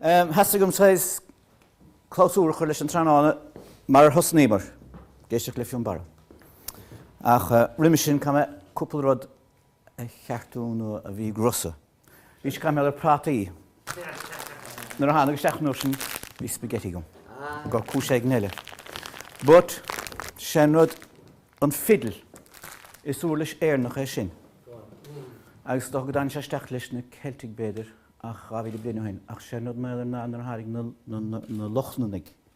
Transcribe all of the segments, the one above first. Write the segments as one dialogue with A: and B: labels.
A: Theastaigh uaim saghas clabhsúr a chur leis an tráthnóna mar a thosnaíomar, ag éisteacht le Fionnbarra. Ach roimis sin caithfidh mé cúpla rud a cheartú nuair a bhí Grosse. Bhí sé ag caint mar gheall ar prátaí. Nuair a tháinig isteach an uair sin bhí spaghetti agam. Go raibh cúis éigin eile. But sé an rud an fiddle is uirlis Éireannach é sin. Agus dócha go dtáinig sé isteach leis na Ceiltigh b'fhéidir ach dhá mhíle bliain ó shin ach sé an rud mar nuair a tháinig na na na Lochlannaigh,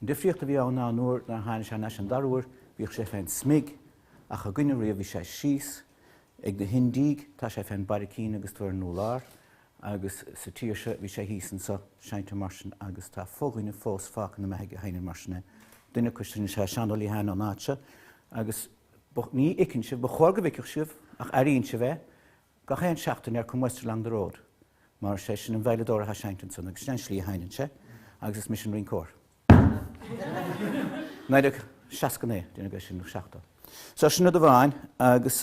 A: An difríocht a bhí ann ná nuair nuair a tháinig sé thar n-ais an dara huair bhíodh sé fén smig ach againne riamh bhí sé síos ag na hIndiaigh, tá sé fén barraicín agus tú ar an úrlár agus sa tír seo bhí sé thíos anso, seinnte mar sin agus tá fo-dhuine fós fágtha ina mbeathaigh a sheinneann mar sin é. Duine acu sin is é Seán Ó Liatháin ón áit seo agus ní fheiceann sibh, ba chóir go bhfeicfeadh sibh ach airíonn sibh é Gach aon seachtain ar Come West Along the Road mar is é sin an veidhleadóir atá ag seinnt ansan agus sin é an slí a sheinneann sé agus is mise an rinceoir. Naoi déag seasca naoi a deineadh é sin nó seachtó. So sin rud amháin agus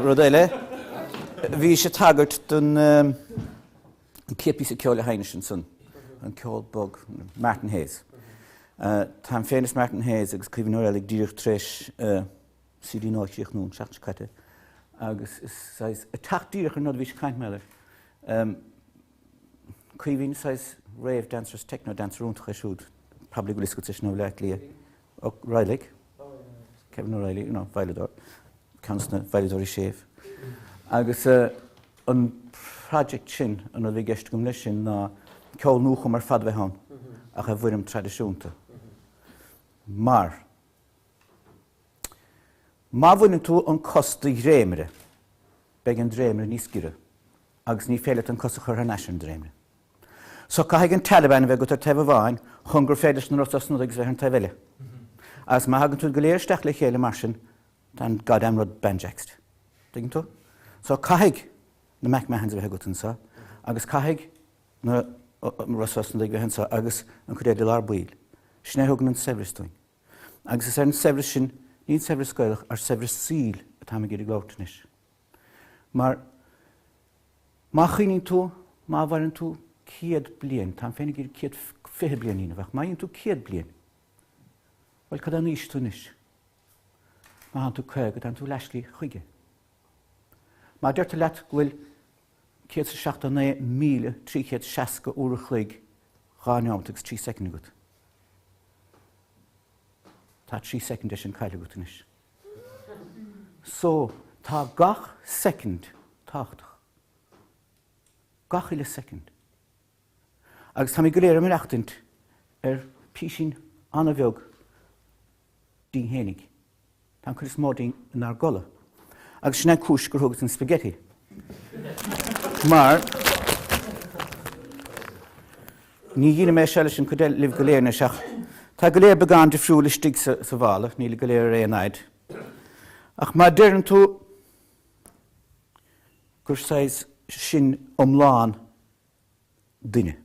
A: rud eile bhís ag tagairt don céad píosa ceoil a sheinnis ansan, an ceol bog, Martin Hayes. Táim féin is Martin Hayes agus Caoimhín Ó Raghallaigh díreach tar éis CD nua a chríochnú an tseachtain seo caite agus is saghas ag teacht díreach ar an rud a bhí sé ag caint mar gheall air. Em Caoimhín saghas rave dancer is techno dancer iontach é siúd probably go bhfuil 'fhios agat seisean ó Bhleá Cliath. Ó Raghallaigh, Kevin O Reilly you know veidhleadóir ceann de na veidhleadóirí séimh. Agus eh an project sin an rud a bhí i gceist agam leis sin ná ceol nuachumtha ar fad a bheith ann ach i bhfoirm traidisiúnta mar, Má bhaineann tú an cos de dhréimire, beidh an dréimire níos giorra agus ní féidir leat an cos a chur thar n-ais ar an dréimire. So caithfidh an Taliban a bheith agat ar taobh amháin chun gur féidir leis na rudaí seo is nuaí agus a bheith ar an taobh eile. Agus má thagann siad go léir isteach le chéile mar sin, tá an goddam rud banjaxed. Tuigeann tú? So caithfidh na McMahons a bheith agat anseo agus caithfidh na rudaí seo is nuaí a bheith anseo agus an cuid eile i lár baill. Sin é a thugann an saibhreas dúinn. Agus is ar an saibhreas sin, ní an saibhreas Gaelach, ár saibhreas saoil atá mé ag iarraidh labhairt anois. Mar má chuimhníonn tú, má mhaireann tú céad bliain, táim féin ag iarraidh céad, fiche bliain a dhéanamh, ach má dhéanann tú céad bliain, bhuel, cad é an aois tú anois? Má tánn tú caoga, tánn tú leathshlí chuige. Má deirtear leat go bhfuil 179,360 uair a chloig, 2 nóimeat agus 3 second agat. Tá 3 second de sin caillte agat anois. So, tá gach second tábhachtach. Gach uile second. Agus táimid go léir ag maireachtaint ar písín an-bheag. díot féinig. Tá an cuid is mó dínn inár gcodladh agus sin é an cúis gur thugas an spaghetti mar ní dhéanfaidh mé seo leis an cuid eile libh go léir anois ach táid go léir beagán difriúil istigh sa sa mhála, nílid go léir ar aon fhaid. Ach má deineann tú gurb shaghas sin iomlán duine.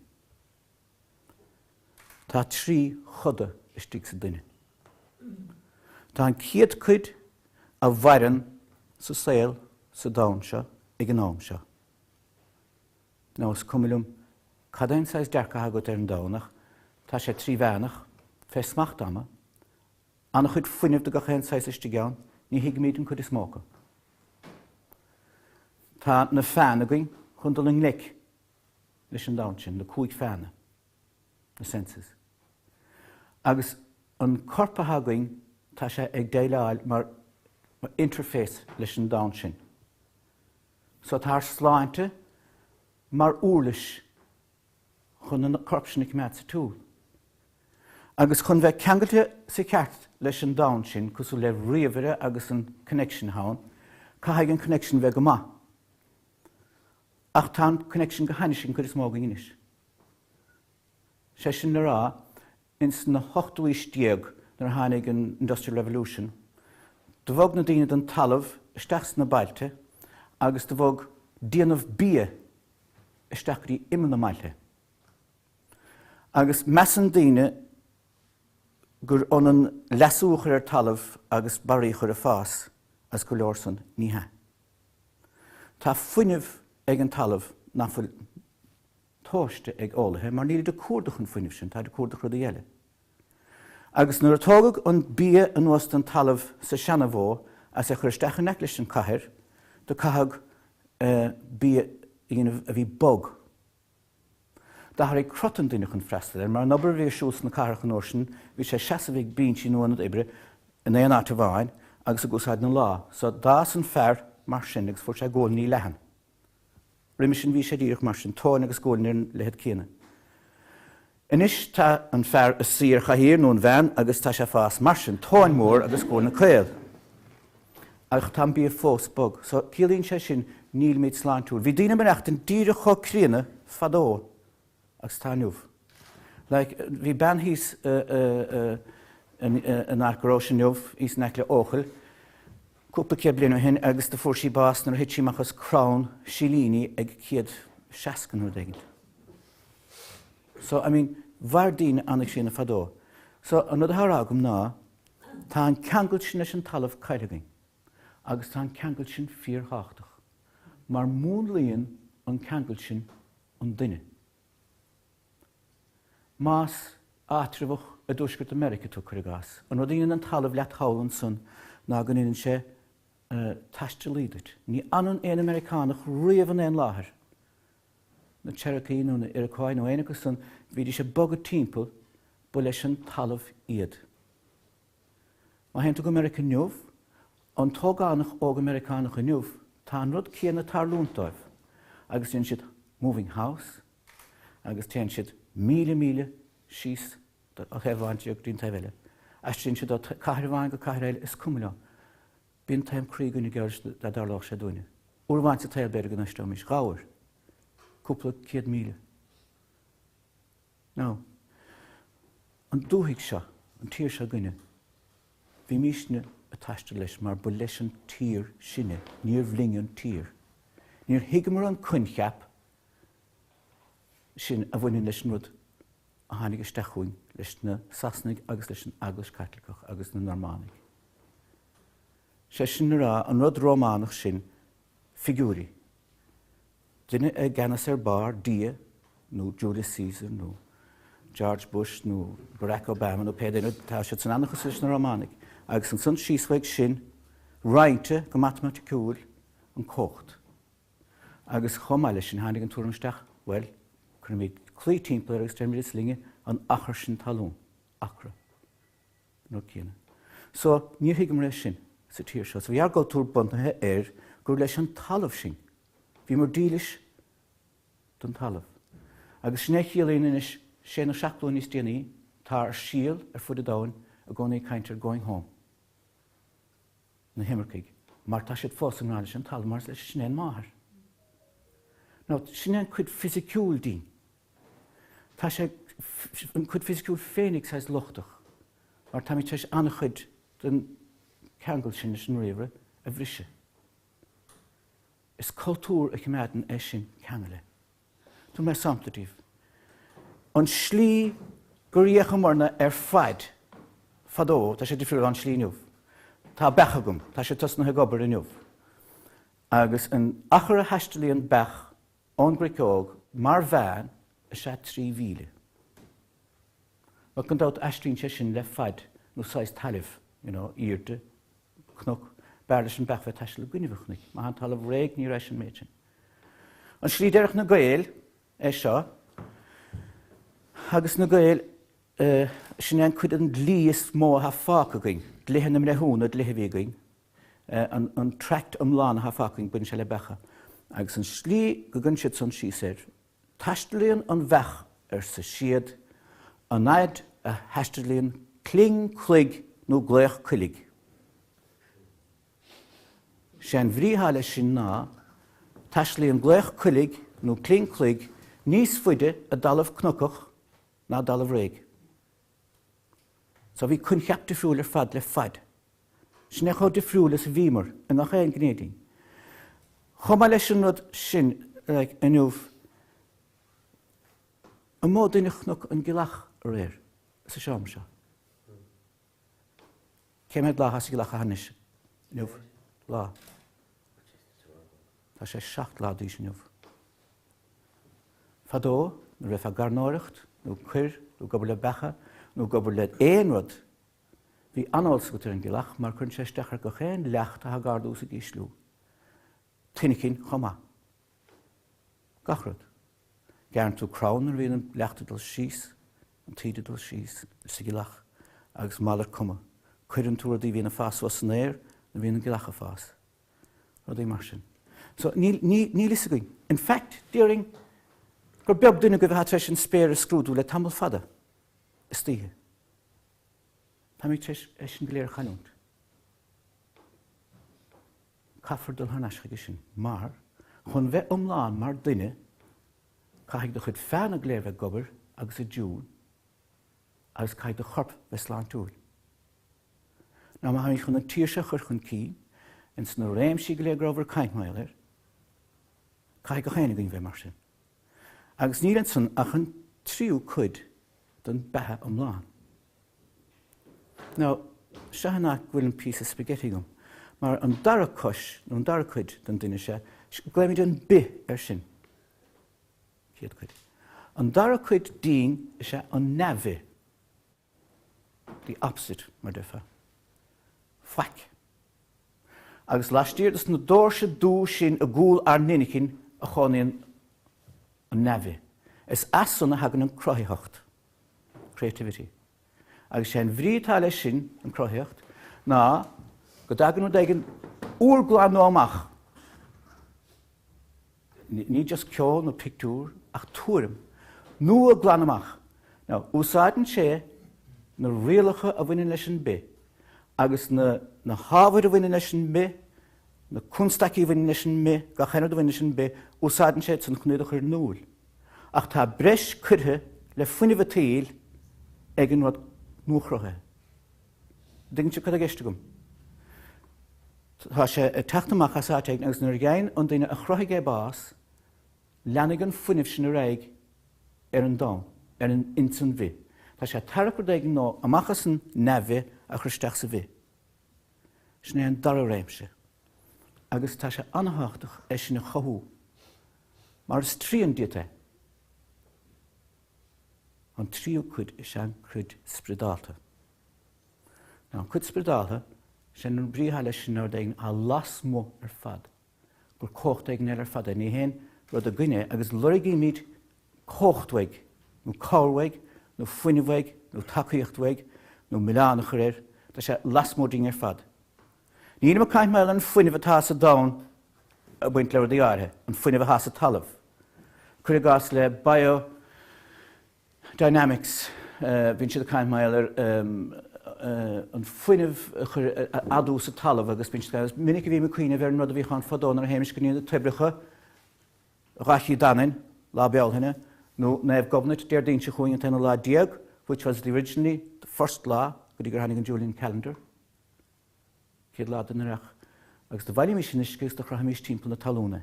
A: Tá trí chuid istigh sa duine. Tá an chéad cuid a mhaireann sa saol sa domhan seo ag an am seo. Now is cuma liom cad é an saghas dearcadh atá agat ar an domhan ach tá sé tríbheannach, fé smacht ama, an-chuid fuinnimh de gach aon saghas istigh ann, ní thuigimíd an cuid is mó acu. Tá na fáin againn chun dul i ngleic leis an domhan sin, na cúig fáin, na senses. Agus an corp atá againn, tá sé ag déileáil mar interface leis an domhan sin. So tá ár sláinte mar uirlis chun an corp sin a choimeád sa tsiúl. Agus chun bheith ceangailte sa cheart leis an domhan sin, cosúil le ríomhaire agus an connection atá ann, caithfidh an connection bheith go maith. Ach tá an connection go hainnis ag an cuid is mó againn anois. Sé sin le rá, ins na hochtú aois déag nuair a tháinig an Industrial Revolution, do bhog na daoine den talamh isteach sna bailte agus do bhog déanamh bia isteach go dtí imeall na mbailte. Agus measann daoine gur ionann leasú a chur ar talamh agus barraí a chur ag fás as gur leor san. Ní hea. Tá fuinneamh ag an talamh nach bhfuil tomhaiste ag eolaithe mar nílid ag cuardach an fuinneamh sin, táid ag cuardach rudaí eile. Agus nuair a tógadh an bia anuas den talamh sa seana-mhodh is é chur isteach in aice leis an cathair, do caitheadh bia a dhéanamh a bhí bog. D'athraigh crot an duine chun freastal air mar an obair a bhí ar siúl sna cathracha an uair sin bhí sé seasamh ag binsí nó ionad oibre in aon áit amháin agus ag úsáid na lámh so d'fhás an fear mar sin agus fuair sé guailní leathan roimis sin bhí sé díreach mar sin tóin agus guailní ar leithead céanna. Anois tá an fear ina shuí ar chathaoir nó an bhean agus ta sé ag fás mar sin tóin mór agus guaillne caol. Ach tá an bia fós bog so ciallaíonn sé sin nílimid sláintiúil. Bhí daoine maireachtaint díreach chomh críonna fadó agus atá inniu. Like bhí bean ansin a rachas inniu thíos in aice le Eochaill cúpla céad bliain ó shin agus do fuair sí bás nuair a thit sí amach as crann silíní ag 160 nó rud éigin. So, I mean, mhair daoine ana-chríonna fadó. So, an rud atá a rá agam ná, tá an ceangailt sin leis an talamh caillte againn agus tá an ceangailt sin fíorthábhachtach mar múnlaíonn an ceangailt sin an duine. Más áitreabhach i dtuaisceart America tú, cuir i gcás, an rud a dhéanann an talamh leat thall ansan ná go ndéanann sé taistealaí díot. Ní fhanann aon Americánach riamh in aon láthair. na Cherokee nó na Iroquois nó éinne acu san, bhídís ag bogadh timpeall, ba leis an talamh iad. Má théann tú go Meiriceá inniu, an t-ógánach óg Meiriceánach inniu, tá an rud céanna tarlúint dóibh agus déanann siad moving house agus téann siad míle míle síos ó thaobh amháin go dtí an taobh eile, aistríonn siad ó cathair amháin go cathair eile, is cuma leo. Bíonn taom croí againn i gceáirr dá dtarlódh sé dúinne. Uair amháin sa tsaol b'fhéidir go n-aistreoimís dhá uair, cúpla céad míle nó an dúthaigh seo, an tír seo againne. Bhímísne ag taisteal leis mar ba leis an tír sinne. Níor linn an tír. Níor thuigeamar an coincheap sin a bhaineann leis an rud a tháinig isteach chugainn leis na Sasanaigh agus leis an Eaglais Caitliceach agus na Normánaigh. sé sin a rá, an rud Rómánach sin, figiúirí. Duine i gceannas ar barr, Dia, nó Julius Caesar, nó George Bush, nó Barack Obama, nó pé duine, tá siad san anuas leis na Rómánaigh. Agus ansan síos uaidh sin, roinnte go matamaiticiúil, an chomhacht. Agus chomh maith leis sin, tháinig an tuairim isteach, bhuel, cuirfimid claí timpeall air agus déarfaimid is linne an achar sin talún, acra. nó céanna. So, níor thuigeamar é sin sa tír seo. So bhí ár gcultúr bunaithe ar gur leis an talamh sinn. Bhíomar dílis don talamh. Agus sin é a chiallaíonn anois, sé nó seacht glúin níos déanaí, tá ár síol ar fud an domhain i gcónaí ag caint ar going home. Na himircigh. Mar tá siad fós i ngrá leis an talamh mar sin í an mháthair. Now, sin é an chuid fisiciúil dínn. Tá sé an chuid fisiciúil féinig saghas lochtach mar táimid tar éis an-chuid den cheangal sin leis an ndúlra a bhriseadh. Is cultúr a choimeádann é sin ceangailte. Tabharfaidh mé sampla daoibh. An slí gur fhéachamarna ar fad fadó, tá sé difriúil ón slí inniu. Tá beach agam, tá sé tosnaithe ag obair inniu. Agus an t-achar a thaistealaíonn beach ón gCruiceog mar mheán is ea trí mhíle. Ach gan dabht aistríonn sé sin le faid nó saghas tailimh, you know, aoirde, cnoc, b'fhearr leis an beach bheith ag taisteal i gcoinnibh an chnoic, má tá an talamh réidh ní raghaidh sé an méid sin. An slí d'fhéach na Gaeil air seo agus na Gaeil eh, sin é an cuid den dlí is mó athá fágtha againn, dlithe na mBreithiún, dlithe a bhí againn, an trácht iomlán atá fágtha againn, baineann sé le beacha agus an slí go gcuireann siadsan síos air, Taistealaíonn an bheach, arsa siad, an fhaid a thaistealaíonn cling cloig nó glaoch coiligh. Sé an bhrí atá leis sin ná, taistealaíonn glaoch coiligh nó cling cloig níos faide i dtalamh cnocach ná i dtalamh réidh. So, bhí coincheap difriúil ar fad le faid. Sin é chomh difriúil is a bhíomar i ngach aon ghné dínn. Chomh maith leis an rud sin, inniu, an mó duine a chonaic an ghealach aréir sa seomra seo? Cé mhéad lá atá sa ghealach anois? Inniu? Lá? Tá sé seacht lá d'aois inniu. Fadó nuair a bheifeá ag gairneoireacht nó ag cur nó ag obair le beacha nó ag obair le aon rud, bhí an-eolas agat ar an ngealach mar cuireann sé isteach ar gach aon leacht atá ag ardú is ag ísliú. Tuinnicín chomh maith. Gach rud. Gearrann tú crann nuair a bhíonn an leacht ag dul síos, an taoide ag dul síos, sa ghealach agus malairt cuma. Cuireann tú rudaí a bhíonn ag fás suas san aer nuair a bhíonn an ghealach ag fás. rudaí mar sin. So, níl, níl, níl 'fhios againn. In fact, déarfainn gur beag duine agaibh atá tar éis an spéir a scrúdú le tamall fada istoíche. Táimid tar éis é sin go léir a chailliúint. Caithfear dul thar n-ais chuige sin mar, chun bheith iomlán mar dhuine, caithfidh do chuid feadhna go léir bheith ag obair agus i dtiúin agus caithfidh do chorp bheith sláintiúil. ná má tháimid chun an tír seo a chur chun cinn ins na réimsí go léir go rabhamar ag caint mar gheall air. Caithfidh gach éinne againn bheith mar sin. Agus níl ansan ach an tríú cuid den beatha iomlán. Now, seo an áit go bhfuil an píosa spaghetti agam, mar an dara cois nó an dara cuid den duine is ea, glaoimid an bith air sin, céad cuid. An dara cuid dínn is ea an neamhbhith. the opposite, mar deirfeá. Faic. Agus laistiar de sna dóirse dubha sin i gcúl ár n-inchinn a chónaíonn an neamhbhith. Is as san a thagann an cruthaitheacht, creativity. Agus sé an bhrí atá leis sin, an cruthaitheacht, ná go dtagann rud éigin úr glan nua amach. Ní just ceol nó pictiúr ach tuairim nua glan amach. Now, úsáideann sé na rialacha a bhaineann leis an mbith agus na hábhair a bhaineann leis an mbith, na constaicí a bhaineann leis an mbith, gach aon rud a bhaineann leis an mbith, úsáideann sé san chun iad a chur in iúl. Ach tá breis curtha le fuinneamh an tsaoil ag an rud nuachruthaithe. An dtuigeann sibh cad tá i gceist agam? Tá sé ag teacht amach as áit éigin agus nuair a gheibheann an duine a chruthaigh é bás, leanfaidh an fuinneamh sin ar aghaidh ar an domhan, ar an, ins an bhith. Tá sé ag tarrac rud éigin nua amach as an neamhbhith á chur isteach sa bhith. Sin é an dara réimse. Agus tá sé an-thábhachtach é sin a chothú mar is trian díot é. An tríú cuid is ea an cuid spriodálta. Now, an cuid spriodálta, sé an bhrí atá leis sin, rud éigin atá lasmuigh ar fad, gur comhacht éigin eile ar fad é. Ní haon rud againn é agus lorgaímid comhacht uaidh, nó cabhair uaidh, nó fuinneamh uaidh, nó tacaíocht uaidh, nó milleán a chur air. Tá sé lasmuigh dínn ar fad. Nílim ag caint mar gheall ar an fuinneamh atá sa domhan ag baint le rudaí áirithe, an fuinneamh atá sa talamh, cuir i gcás le biodynamics, bíonn siad ag caint mar gheall ar an fuinneamh a chur a fhadú sa talamh agus bíonn siad ag caint, is minic a bhím ag cuimhneamh ar an rud a bhíodh ann fadó nuair a théimis go dtí na toibreacha, Dhá Chích Danann, Lá Bealthaine, nó Naomh Gobnait, Déardaoin seo chugainn an t-aonú lá déag, which was the originally the first lá go dtí gur tháinig an Julian Calendar. chéad lá den Earrach agus do bhailímís an uisce agus do chroithimís timpeall na talún é.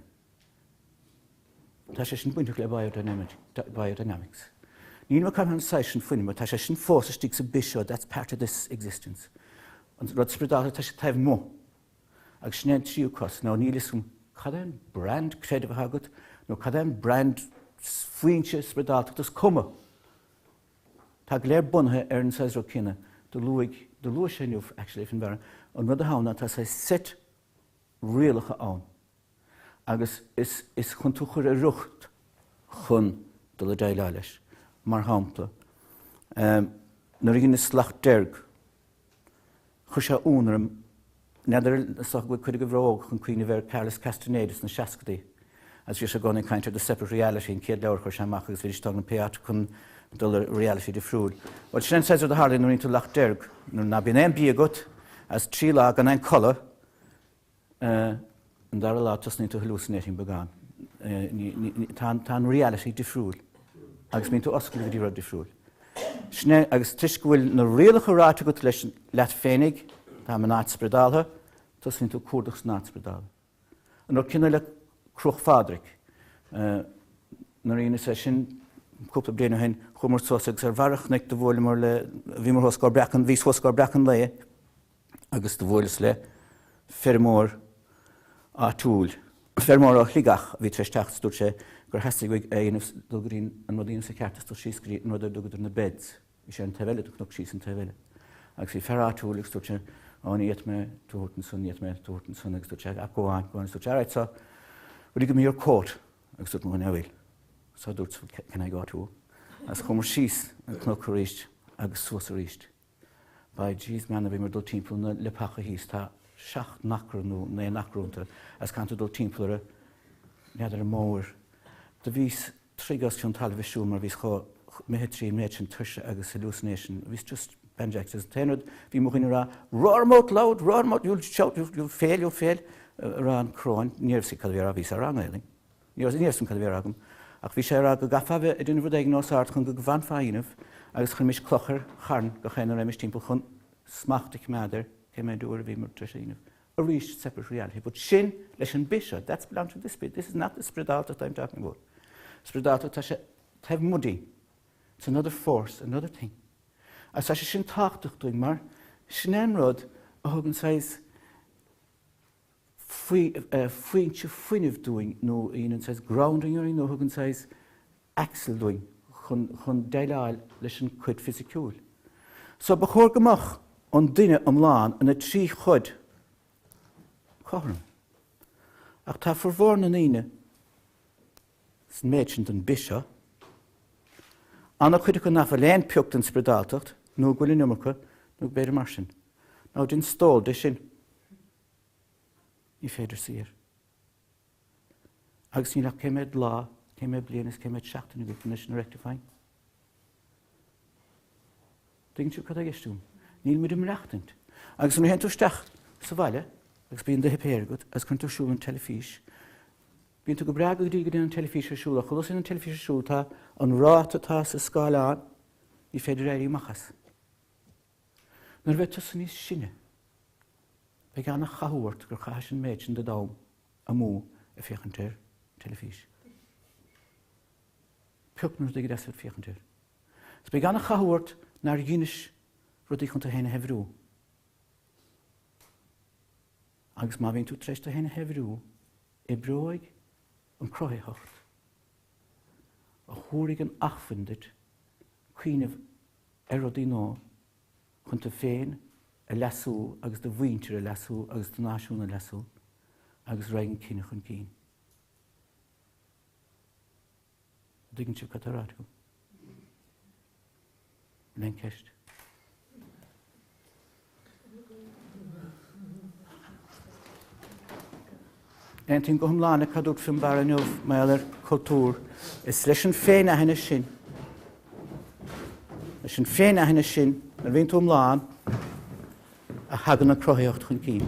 A: Tá sé sin bainteach le biodynamics. Nílim ag caint ar an saghas sin fuinnimh mar tá sé sin fós istigh sa bith seo, that's part of this existence. An rud spriodáltha tá sé taobh amuigh agus sin é an tríú cos. Now, níl 'fhios a'm cad é an brand creidimh atá agat nó cad é an brand foinse spriodáltachta is cuma. Tá go léir bunaithe ar an saghas rud céanna. Do luaigh, do luaigh sé inniu actually, Finbarra, an rud atá ann ná tá saghas set rialacha ann agus is, is chun tú chur i riocht chun dul ag déileáil leis. Mar shampla, nuair a dheineas Loch Deirg. Chuir sé ionadh orm, n'fheadar an is dócha go bhfuil cuid agaibh ró-óg chun cuimhneamh ar Carlos Castaneda sna seascadaí agus bhíodh sé i gcónaí ag caint ar The Separate Reality, an chéad leabhar a chuir sé amach agus bhídís ag tógaint peyote chun dul i reality difriúil. Bhuel, sin an saghas rud a tharlaíonn nuair a bhíonn tú Loch Deirg, nuair ná bíonn aon bia agat agus trí lá gan aon codladh. an dara lá tosnaíonn tú hallucinating beagán. Tá an reality difriúil agus bíonn tú oscailte go dtí rud difriúil. Sin é agus toisc go bhfuil na rialacha ráite agat leis, leat féinig, táim in áit spriodálta, tosnaíonn tú ag cuardach san áit spriodálta. An rud céanna le Cruach Phádraig. Nuair a dheineas é sin cúpla bliain ó shin, chuamar suas agus ar bharr an chnoic do bhuaileamar le, bhíomar thuas i gcomhair breacadh an, bhíos thuas i gcomhair breacadh an lae, agus do bhuaileas le feirmeoir áitiúil, feirmeoir ó Shligeach a bhí tar éis teacht is dúirt sé gur theastaigh uaidh a dhéanamh dul go dtí an rud a dhéanamh sa cheart is dul síos go dtí an rud ar a dtugadar na beds, bhí sé ar an taobh eile den chnoc síos an taobh eile agus bhí fear áitiúil agus dúirt sé á ní fhéadfadh mé tú a thabhairt ansan, ní fhéadfadh mé tú a thabhairt ansan agus dúirt sé ach go on, go on is dúirt sé alright so will you give me your coat agus dúirt mo dhuine I will so dúrt can I go too is chuamar síos an cnoc arís agus suas arís. By Jeez man nuair a bhíomar ag dul timpeall na leapacha thíos, tá seacht n-acra nó naoi n-acra iontu agus caitheann tú dul timpeall orthu, n'fheadar an mó uair. Do bhíos troigh os cionn talamh ag siúl mar bhíos chomh imithe tríd an méid sin tuirse agus hallucination, bhíos just banjaxed agus an t-aon rud bhí mo dhuine a rá roar 'em out loud, roar 'em out, you'll shout, you'll fail, you'll fail ag rá an Choróin, ní raibh a fhios aige cad a bhí á rá, bhíos á rá i nGaelainn. Ní raibh a fhios a'm cad a bhí á rá agam ach bhí sé a rá go gcaithfeá a bheith a' déanamh rud éigin os ard chun go bhfanfá á dhéanamh agus chuirimis cloch ar charn gach aon uair a bheimis timpeall chun smacht a choimeád ar cé méid uair a bhíomar tar éis a dhéanamh. Arís, separate reality. But sin leis an bith seo, that's belongs to this bith, this is not the spioradáltacht I'm talking about. Spioradáltacht, tá sé taobh amuigh dínn. It's another force, another thing. Agus tá sé sin tábhachtach dúinn mar sin é an rud a thugann saghas, eh, foinse fuinnimh dúinn nó a dheineann saghas grounding orainn nó a thugann saghas axle dúinn chun chun déileáil leis an cuid fisiciúil. So ba chóir go mbeadh an duine iomlán ina trí chuid cothrom. Ach tá formhór na ndaoine san méid sin den bith seo, ana-chuid acu ná fuil aon pioc den spriodáltacht nó go bhfuil an iomarca nó b'fhéidir mar sin. Now dein stól de sin. Ní féidir saor. Agus níl ach cé mhéad lá, cé mhéad bliain agus cé mhéad seachtain agaibh chun é sin a rectify? Tuigeann sibh cad tá i gceist agam. Níl muid i mBreachtaint. Agus nuair a théann tú isteach sa bhaile agus bíonn do shuipéar agat agus cuireann tú ar siúl an teilifís, bíonn tú go breá go dtí go dtéann an teilifís ar siúl. Ach a thúisce a théann an teilifís ar siúl, tá an rat atá sa scáileán, ní féidir éirí amach as. Nuair a bheidh tusa níos sine, beidh an-chathú ort gur chaithis an méid sin de d'am amú ag féachaint ar an teilifís. Pioc rudaí go deas le féachaint air. Is beidh an-chathú ort nár dheinis rudaí chun tú féin a shaibhriú. Agus má bhíonn tú tar éis tú féin a shaibhriú, oibreoidh an chruthaitheacht a thabharfaidh an acmhainn duit cuimhneamh ar rudaí nó chun tú féin a leasú agus do mhuintir a leasú agus do náisiún a leasú agus raghaidh an cine chun cinn. An dtuigeann sibh cad tá ráite agam? Níl aon cheist. Aontaím go hiomlán le cad a dúirt Finbar inniu maidir le cultúr. Is leis an féinaithne sin, leis an féinaithne sin nuair a bhíonn tú iomlán a thagann an cruthaitheacht chun cinn.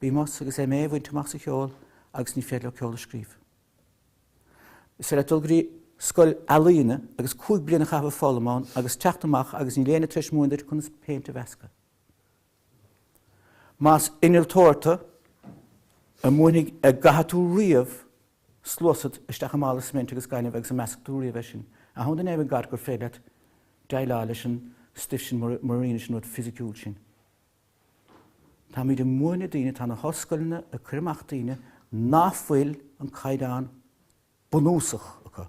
A: BMus agus MA a bhaint amach sa cheol agus ní féidir leo ceol a scríobh. Is féidir leat dul go dtí scoil ealaíne agus cúig bliana a chaitheamh ag foghlaim ann agus teacht amach agus níl éinne tar éis múineadh duit conas péint a mheascadh. Más innealtóir tú, an múinfidh, ar chaith tú riamh sluasad isteach i mála suimint agus gaineamh agus ar mheasc tú riamh é sin? Cá hionadh, an dóigh leat gur féidir leat déileáil leis an stuif sin muna ndeinis an rud fisiciúil sin. Táimid ag múineadh daoine, tá na hollscoileanna ag cur amach daoine nach bhfuil an caighdeán bunúsach acu.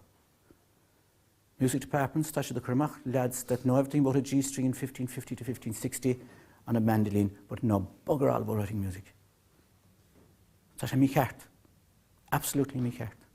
A: Music departments, tá siad ag cur amach lads that know everything about a G string in 1550 to 1560 and a mandolin but know bugger all about writing music. Tá sé mícheart. Absolutely mícheart.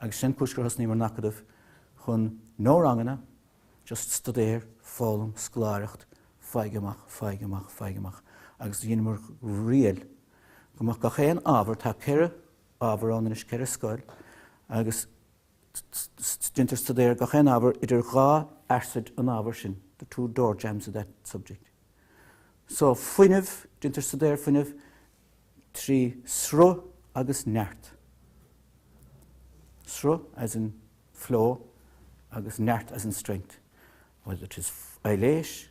A: agus sin cúis gur thosnaíomar an tAcadamh chun no ranganna, just stuidéar, foghlaim, scoláireacht, faigh amach, faigh amach, faigh amach agus dheineamar riail go mbeadh gach aon ábhar, tá ceithre ábhar ann anois, ceithre scoil agus deintear stuidéar ar gach aon ábhar idir dhá ursain an ábhair sin, the two door jambs of that subject. So fuinneamh, deintear stuidéar ar fhuinneamh, trí sruth agus neart. Sruth as in flow agus neart as in strength, whether it is aibhléis,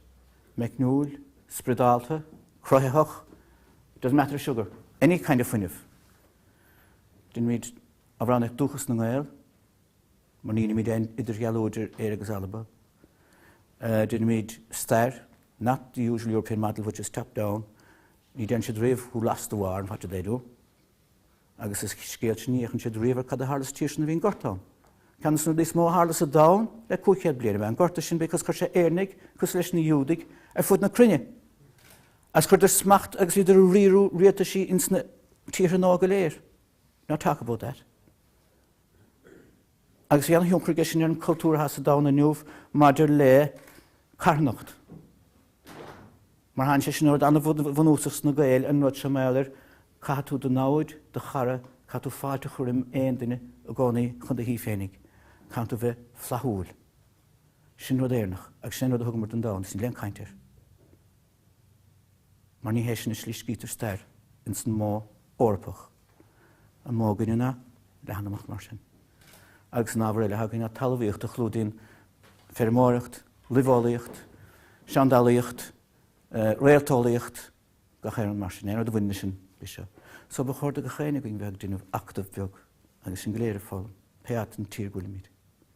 A: meicniúil, spriodálta, cruthaitheach, it doesn't matter sugar, any kind of fuinneamh. Deinimid amhránaíocht, dúchas na nGael, mar ní dheinimid aon idirdhealú idir Éire agus Alba. Deinimid stair, not the usual European model which is top down, Ní dhein siad riamh who lost the war and what did they do agus sa scéal sin ní fhéachann siad riamh ar cad a tharla sa tír sin a bhí an gorta ann. Ceann des na rudaí is mó a tharla sa domhan le cúig chéad bliain ab ea an gorta sin because chuir sé Éireannaigh cosúil leis na Iúdaigh ar fud na cruinne agus chuireadar smacht agus bhíodar ag riarú rialtaisí ins na tíortha nua go léir. No talk about that. Agus bhí an-thionchar aige sin ar an cultúr atá sa domhan inniu maidir le carthanacht. Mar tháinig sé sin ar rud an-bhunúsach sna Gaeil, an rud seo mar gheall ar caithfidh tú do namhaid, do chara, caithfidh tú fáilte a chur roim aon duine i gcónaí chun do thí féinig. Caithfidh tú bheith flaithiúil. Sin rud Éireannach agus sin an rud a thugamar don domhan. Is níl aon caint air. mar ní hé sin an slí a scríobhtar stair ins an modh Eorpach. An modh againne ná leathan amach mar sin. Agus an ábhar eile atá againn ná talamhaíocht a chlúdaíonn feirmeoireacht, luibheolaíocht, seandálaíocht, réalteolaíocht, gach aon rud mar sin, aon rud a bhaineann leis an bith seo. So ba chóir do gach éinne againn bheith ag déanamh acadamh beag agus sin go léir ar fáil, pé áit den tír go bhfuilimid.